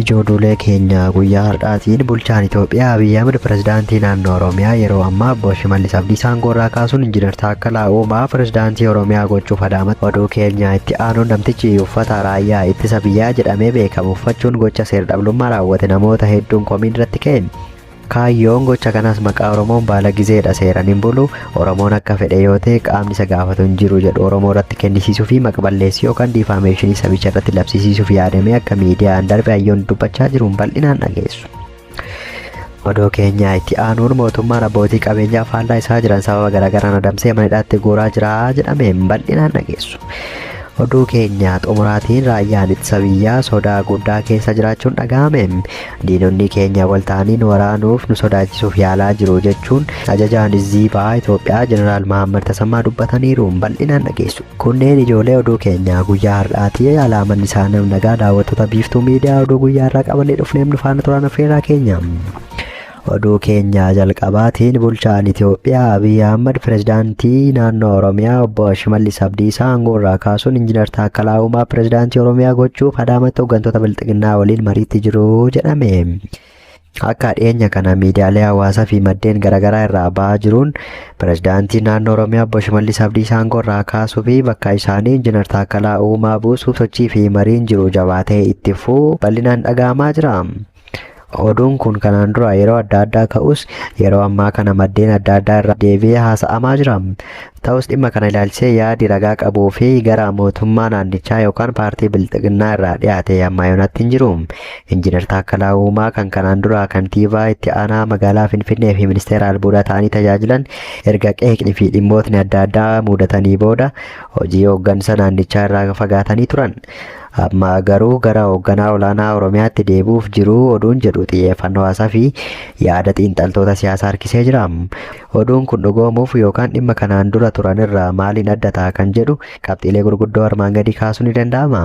Ijooduulee keenya guyyaa har'aatiin bulchaan Itoophiyaa Abiy Ahmed pirezidaantii naannoo Oromiyaa yeroo ammaa obbo Shimallis Abdiisaa aangoorraa kaasuun Injiinar Taakkalaa Uumaa pirezidaantii Oromiyaa gochuuf adaamatti oduu keenya itti aanuun namtichi uffata raayyaa ittisa biyyaa jedhamee beekamu uffachuun gocha seer-dhablummaa raawwate namoota hedduun komiin irratti ka'e. Kaayyoon gocha kanaas maqaa Oromoon baalagizeedha seeran hin bulu, Oromoon akka fedhe yoo ta'e qaamni isa gaafatu hin jiru jedhu Oromoo irratti kennisiisuu fi maqballeessii yookaan diifaameeshinii sabicha irratti labsisiisuuf yaadamee akka miidiyaan darbe hayyoonni dubbachaa jiruun bal'inaan dhageessu. Odoo keenyaa itti aanuun mootummaan abbootii qabeenyaa faallaa isaa jiran sababa garaagaraan adamsee mana hidhaatti guuraa jira jedhameen bal'inaan dhageessu. Oduu keenya xumuraatiin raayyaan ittisa biyyaa sodaa guddaa keessa jiraachuun dhaga'ame. Diinonni keenya wal ta'anii nu waraanuuf, nu sodaachisuuf yaalaa jiru, jechuun Ajajaan Izzii Bahaa Itoophiyaa Jeneraal Mahaammad Tasammaa dubbataniiru. Bal'inaan dhageessu. Kunneen ijoolee oduu keenyaa guyyaa har'aati. Alaa manni isaa nam nagaa daawwattoota Biiftuu Miidiyaa oduu guyyaa har'aa qabannee dhufneef nu faana turaan affeerraa keenya. Oduu keenya jalqabaatiin bulchaan Itoophiyaa Abiy Ahmad pirezidaantii naannoo Oromiyaa obbo Shimallis Abdiisaa aangoo irraa kaasuun Injiinar Taakkalaa Uumaa pirezidaantii Oromiyaa gochuuf Adaamatti hooggantoota bilxiginnaa waliin mariitti jiru jedhame. Akka dhiyeenya kana miidiyaalee hawaasaa fi maddeen garaagaraa irraa ba'aa jiruun pirezidaantii naannoo Oromiyaa obbo Shimallis Abdiisaa aangoo irraa kaasuu fi bakka isaanii injinar Taakkalaa Uumaa buusuuf sochii fi mariin jiru jabaatee itti fufuu bal'inaan dhaga'amaa jira. Oduun kun kanaan dura yeroo adda addaa ka'us yeroo ammaa kana maddeen adda addaa irraa deebi'ee haasa'amaa jira. Ta'us dhimma kana ilaalchisee yaadi ragaa qabuu fi gara mootummaa naannichaa yookaan paartii Bilxiginnaa irraa dhiyaate ammaa yoonatti hin jiru. Injiinar Taakkalaa Uumaa kan kanaan dura kantiibaa itti aanaa magaalaa Finfinnee fi ministeera albuudaa ta'anii tajaajilan erga qeeqni fi dhimmootni adda addaa muudatanii booda hojii hooggansa naannichaa irraa fagaatanii turan. Amma garuu gara hoogganaa olaanaa Oromiyaatti deebi'uuf jiru oduun jedhu xiyyeeffannoo haasaa fi yaada xiinxaltoota siyaasaa harkisee jira. Oduun kun dhugoomuuf yookaan dhimma kanaan dura turan irraa maaliin adda ta'a kan jedhu qabxiilee gurguddoo armaan gadii kaasuu ni danda'ama.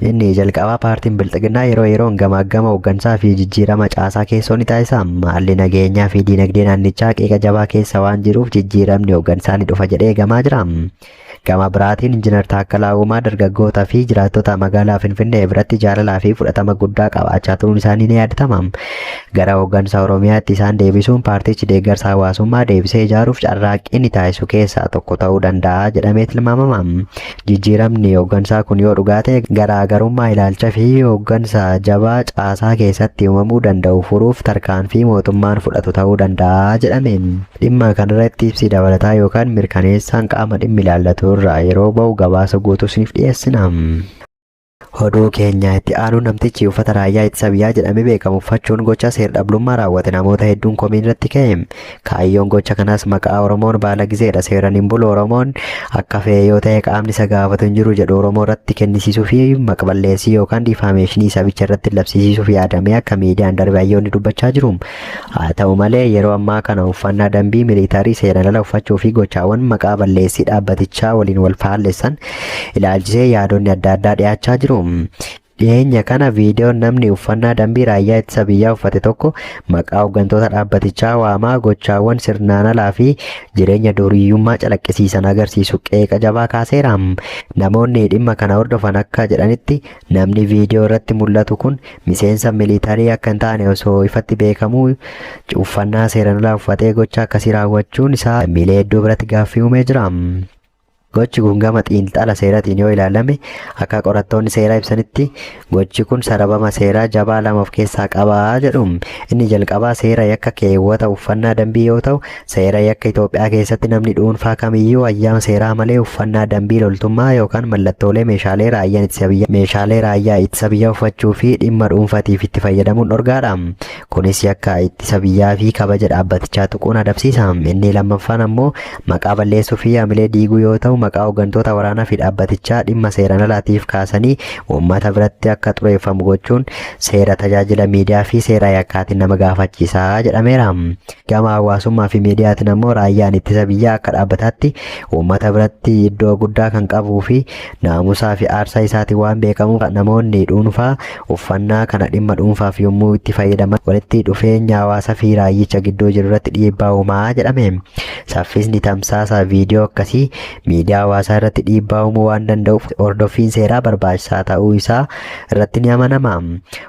Inni jalqabaa paartiin Bilxiginnaa yeroo yeroon gamaaggama hooggansaa fi jijjiirama caasaa keessoo ni taasisa. Haalli nageenyaa fi diinagdee naannichaa qeeqa jabaa keessa waan jiruuf jijjiiramni hooggansaa ni dhufa jedhee eegamaa jira. Gama biraatiin Injinar Taakkalaa Uumaa dargaggootaa fi jiraattota magaalaa Finfinnee biratti jaalalaa fi fudhatama guddaa qabaachaa turuun isaanii ni yaadatama. Gara hooggansa Oromiyaatti isaan deebisuun paartichi deeggarsa hawaasummaa deebisee ijaaruuf carraaqqii ni taasisu keessaa tokko ta'uu danda'a jedhamee tilmaamama. Jijjiiramni hooggansaa kun yoo dhugaa ta'e garaagarummaa ilaalcha fi hooggansa jabaa caasaa keessatti uumamuu danda'u furuuf tarkaanfii mootummaan fudhatu ta'uu danda'a jedhame. Dhimma kanarratti ibsi dabalataa yookaan mirkaneessaan qaama dhimmi ilaallatu irraa yeroo ba'u gabaasa guutuu isiniif dhiyeessina. Oduu keenya itti aanu namtichi uffata raayyaa ittisa biyyaa jedhamee beekamu uffachuun gocha seer-dhablummaa raawwate namoota hedduun komiin irratti ka'e. Kaayyoon gocha kanaas maqaa Oromoon baala gizeedha seeran hin bulu Oromoon akka fe'e yoo ta'e qaamni isa gaafatu hin jiru jedhu Oromoo irratti kennisiisuu fi maqballeessii yookaan diifaameeshinii sabicha irratti labsiisiisuuf yaadamee akka miidiyaan darbe hayyoonni dubbachaa jiru. Haa ta'u malee yeroo ammaa kana uffannaa dambii miliitarii seeraan ala uffachuu fi gochaawwan maqaa balleessii dhaabbatichaa waliin wal faallessan ilaalchisee yaadonni adda addaa dhiyaachaa jiru. Dhiyeenya kana viidiyoon namni uffannaa dambii raayyaa ittisa biyyaa uffate tokko maqaa hooggantoota dhaabbatichaa waamaa gochaawwan sirnaan alaa fi jireenya duuriyyummaa calaqqisiisan agarsiisu qeeqa jabaa kaaseera. Namoonni dhimma kana hordofan akka jedhanitti Namni viidiyoo irratti mul'atu kun miseensa militarii akka hin taane osoo ifatti beekamuu uffannaa seeran alaa uffatee gocha akkasii raawwachuun isaa lammiilee hedduu biratti gaaffii uumee jira. Gochi kun gama xiinxala seeratiin yoo ilaalame akka qorattoonni seeraa ibsanitti gochi kun sarabama seeraa jabaa lama of keessaa qaba jedhu. Inni jalqabaa seera yakka keewwata uffannaa dambii yoo ta'u Seera yakka Itoophiyaa keessatti namni dhuunfaa kamiyyuu hayyama seeraa malee uffannaa dambii loltummaa yookaan mallattoolee meeshaalee raayyaan ittisa biyyaa meeshaalee raayyaa ittisa biyyaa uffachuu fi dhimma dhuunfaatiif itti fayyadamuun dhorgaadha. Kunis yakka ittisa biyyaa fi kabaja dhaabbatichaa tuquun adabsiisa. Inni lammaffaan ammoo maqaa balleessuu fi hamilee diiguu yoo ta'u maqaa hooggantoota waraanaa fi dhaabbatichaa dhimma seeraan alaatiif kaasanii uummata biratti akka xureeffamu gochuun seera tajaajila miidiyaa fi seera yakkaatiin nama gaafachiisa jedhameera. Gama hawaasummaa fi miidiyaatiin ammoo raayyaan ittisa biyyaa akka dhaabbataatti uummata biratti iddoo guddaa kan qabuu fi naamusaa fi aarsaa isaatiin waan beekamuuf namoonni dhuunfaa uffannaa kana dhimma dhuunfaaf yommuu itti fayyadaman walitti dhufeenya hawaasa fi raayyicha gidduu jiru irratti dhiibbaa uumaa jedhame. Saffisni tamsaasa viidiyoo akkasii miidiyaa hawaasaa irratti dhiibbaa uumuu waan danda'uuf hordoffiin seeraa barbaachisaa ta'uu isaa irratti ni amanama.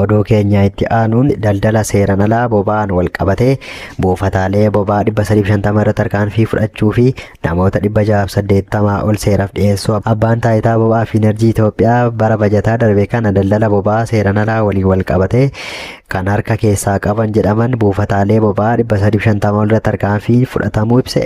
Oduu keenya itti aanuun daldala seeran alaa boba'aan wal qabatee buufataalee boba'aa 350 irratti tarkaanfii fudhachuu fi namoota 680 ol seeraaf dhiyeessuu abbaan taayitaa boba'aa fi enerjii Itoophiyaa bara bajataa darbe kana daldala boba'aa seeran alaa waliin wal qabatee kan harka keessaa qaban jedhaman buufataalee boba'aa 350 ol irratti tarkaanfii fudhatamuu ibse.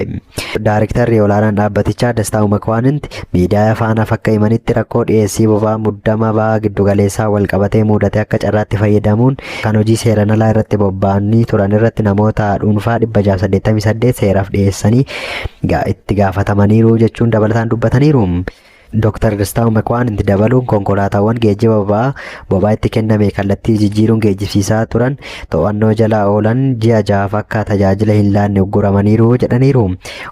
Daarektarri olaanaan dhaabbatichaa Dastaa Umakwaanint Miidiyaa Faanaaf akka himanitti rakkoo dhiyeessii boba'aa muddama baha giddugaleessaan walqabatee muudate akka carraatti fayyadamuun kan hojii seeran alaa irratti bobba'anii turan irratti namoota dhuunfaa 688 seeraaf dhiyeessanii itti gaafatamaniiru jechuun dabalataan dubbataniiru. Dr. Dastaawu Mekwaanint dabaluun konkolaataawwan geejjiba boba'aa Bobaa itti kenname kallattii jijjiiruun geejjibsiisaa turan to'annoo jala oolan ji'a jahaaf akka tajaajila hin laanne ugguramaniiru jedhaniiru.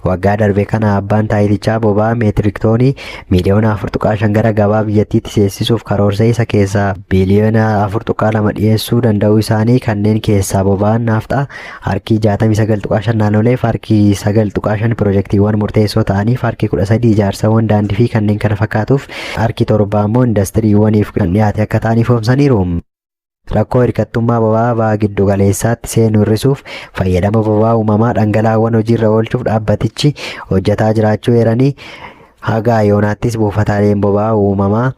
Waggaa darbe kana abbaan taayitichaa bobaa meetirik toonii miiliyoona 4.5 gara gabaa biyyattiitti seensisuuf karoorsee isa keessaa biiliyoona 4.2 dhiyeessuu danda'uu isaanii kanneen keessaa boba'aan naafxaa Harkii 69.5 naanooleef harkii 9.5 pirojektiiwwan murteessoo ta'aniif harkii 13 ijaarsawwan daandii fi kanneen kana fakkaatuuf harkii 7 ammoo indastiriiwwaniif kan dhiyaate akka ta'an ifoomsaniiru. Rakkoo hirkattummaa boba'aa baha giddu galeessaatti seenu hir'isuuf fayyadama boba'aa uumamaa dhangala'aawwan hojiirra oolchuuf dhaabbatichi hojjetaa jiraachuu eeranii haga yoonaattis buufataaleen boba'aa uumamaa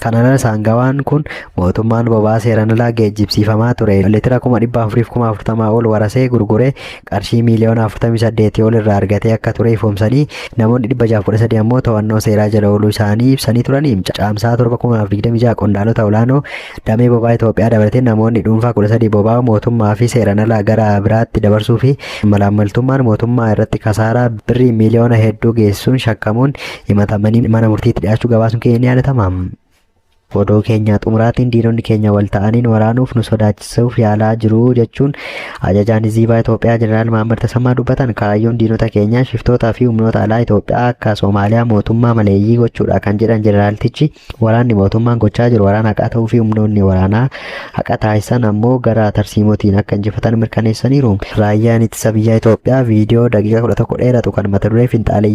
Kana malees aangawaan kun mootummaan boba'aa seeraan alaa geejjibsiifamaa ture litira kuma 400fi kuma 40 ol warasee gurguree qarshii miiliyoona 48 ol irraa argatee akka ture ifoomsanii namoonni 613 ammoo to'annoo seeraa jala ooluu isaanii ibsanii turanii caamsaa 7 2026 qondaalota olaanoo damee boba'aa Itoophiyaa dabalatee namoonni dhuunfaa 13 boba'aa mootummaa fi seeraan alaa gara biraatti dabarsuu fi malaammaltummaan mootummaa irratti kasaaraa birrii miiliyoona hedduu geessuun shakkamuun himatamanii mana murtiitti dhiyaachuu gabaasuun keenya ni yaadatama. Odoo keenyaa xumuraatiin diinonni keenya wal ta'aniin waraanuuf nu sodaachisuuf yaalaa jiru jechuun ajajaan Ziibaa Itoophiyaa Jeneraal Mahammad Tasammaa dubbatan kaayyoon diinota keenyaa shiftootaa fi humnoota alaa Itoophiyaa akka Soomaaliyaa mootummaa maleeyyii gochuudha kan jedhan jeneraaltichi waraanni mootummaan gochaa jiru waraana haqaa ta'uu fi humnoonni waraanaa haqa taasisan ammoo gara tarsiimootiin akka injifatan mirkaneessaniiru. Raayyaan ittisa biyyaa Itoophiyaa viidiyoo daqiiqaa 11 dheeratu kan mata duree finxaalee